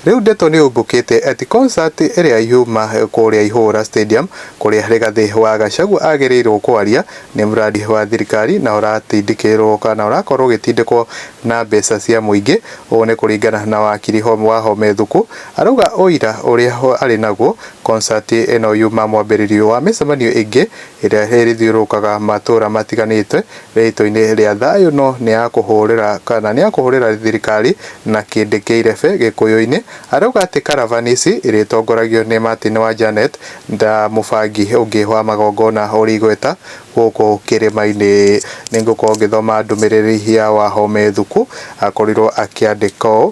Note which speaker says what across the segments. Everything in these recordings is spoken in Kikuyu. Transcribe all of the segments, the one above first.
Speaker 1: Rĩu ndeto nĩ ũmbũkĩte ati concert ĩrĩa yuma kũrĩa Ihũra Stadium kũrĩa Rigathi wa Gachagua agĩrĩirwo kwaria nĩ mradi wa thirikari na ũratindĩkĩrwo kana ũrakorwo ũgĩtindĩkwo na mbeca cia mũingĩ. Ũũ nĩ kũringana na wakiri wa Home Thuku arauga ũira ũrĩa arĩ naguo concert ĩno yuma mwambĩrĩrio wa mĩcemanio ĩngĩ ĩrĩa ĩrĩthiũrũrũkaga matũra matiganĩte Rĩĩtwa-inĩ rĩa thayũ no nĩ ya kũhũrĩra kana nĩ ya kũhũrĩra thirikari na kĩndĩ kĩa irebe Gĩkũyũ-inĩ. Arauga atĩ karavani ici irĩtongoragio nĩ Martin wa Janet ta mũbangi ũngĩ wa magongona ũrĩ igweta gũkũ kĩrĩma-inĩ. Nĩ ngũkorwo ngĩthoma ndũmĩrĩri ya Wahome Thuku akorirwo akĩandĩka ũũ.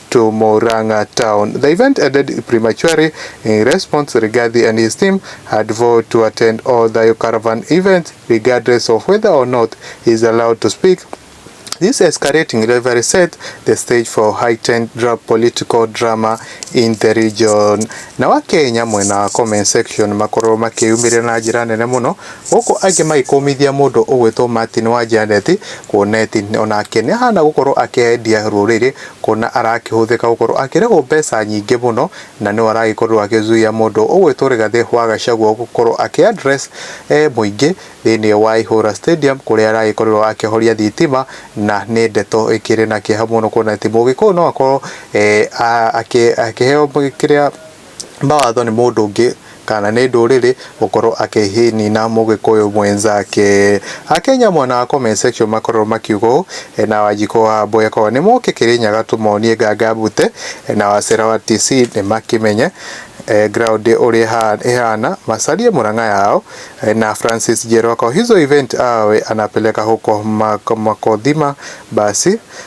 Speaker 1: to Murang'a town. The event ended prematurely in response Rigathi and his team had vowed to attend all Thayo Caravan events regardless of whether or not he is allowed to speak This escalating rivalry set the stage for heightened political drama in the region. Na wa Kenya mwena wa comment section makorwo makĩyumĩrĩra na njĩra nene mũno gũkũ angĩ magĩkũmithia mũndũ ũgwĩtwo Martin wa Janeti kuona ati onake nĩ ahana gũkorwo akĩendia rũrĩrĩ Kuona arakĩhũthĩka gũkorwo akĩrĩhwo mbeca nyingĩ mũno na nĩwe aragĩkorirwo agĩzuia mũndũ ũgwĩtwo Rigathĩ wa Gachagua gũkorwo akĩ address mũingĩ thĩinĩ wa Ihũra Stadium kũrĩa aragĩkorirwo akĩhoria thitima na nĩ ndeto ĩkĩrĩ na kĩeha mũno kuona atĩ Mũgĩkũyũ no akorwo akĩheo kĩrĩa mawatho nĩ mũndũ ũngĩ kana nĩ ndũrĩrĩ gũkorwo akĩnina mũgĩkũyũ mwenzake. Akenya mwena wa comment section makoragwo makiuga ũũ, na Wanjikũ wa Wambũi akorwo nĩ mũke Kĩrĩnyaga tũmonie nganga mbute, na Wacera wa Kisii nĩ makĩmenye ground ũrĩa ĩhana, macarie Murang'a yao, na Francis Njerũ akorwo hizo event awe anapeleka huko makodhima basi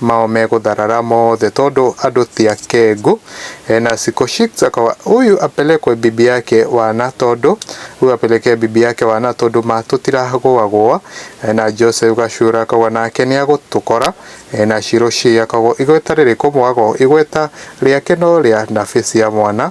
Speaker 1: mao megũtharara mothe tondũ andũ ti akengu na Sikoshik akawa huyu apelekwe bibi yake wana tondũ huyu apelekee bibi yake wana tondũ ma tũtiragũagũa na Joseph Gacura akawa nake nĩagũtũkora na Shiroshi akawa igweta rĩrĩkũ mwago igweta rĩake no rĩa nabĩ cia mwana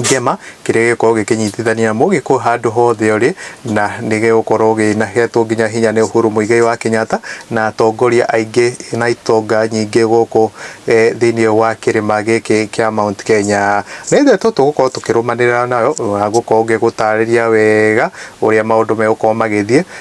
Speaker 1: Ngema, kĩrĩa gĩgũkorwo gĩkĩnyitithania mũgĩkũyũ handũ hothe ũrĩ, na nĩ gĩgũkorwo gĩhetwo nginya hinya nĩ Uhuru Muigai wa Kenyatta na atongoria aingĩ na itonga nyingĩ gũkũ thĩiniĩ wa kĩrĩma gĩkĩ kĩa Mount Kenya. Nĩ ndeto tũgũkorwo tũkĩrũmanĩrĩra nayo na ngũkorwo ngĩgũtarĩria wega ũrĩa maũndũ megũkorwo magĩthiĩ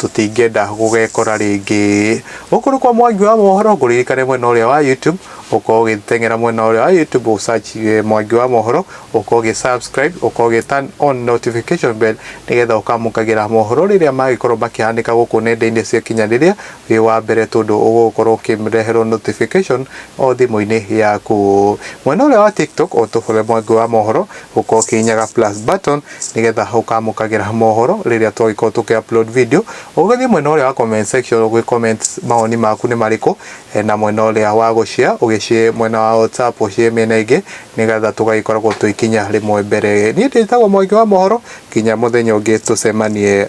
Speaker 1: tũtingĩenda gũgekora rĩngĩ. Gũkũ nĩ kwa Mwangi wa Mohoro, ngũririkane mwena ũrĩa wa YouTube, ũkorwo ũgĩteng'era mwena ũrĩa wa YouTube, ũ search eh, Mwangi wa Mohoro, ũkorwo ũgĩ subscribe, ũkorwo ũgĩ turn on notification bell, nĩgetha ũkamũkagĩra mohoro rĩrĩa magĩkorwo makĩhanĩka gũkũ nenda-inĩ cia kinyanĩria, wĩ wa mbere tondũ ũgũkorwo ũkĩreherwo notification o thimũ-inĩ yaku. Mwena ũrĩa wa TikTok, ũtũbore Mwangi wa Mohoro, ũkorwo ũkĩhihinyaga plus button, nĩgetha ũkamũkagĩra mohoro rĩrĩa twagĩkorwo tũkĩ upload video ũgĩthiĩ mwena ũrĩa wa comment section ũgĩ comment mawoni maku nĩ marĩkũ eh, na mwena ũrĩa wa gũshare ũgĩshare mwena wa WhatsApp ũshare mĩena ĩngĩ nĩgetha tũgagĩkoragwo twĩkinya rĩmwe mbere niĩ ndĩtagwo mwangi wa mohoro kinya mũthenya ũngĩ tũcemanie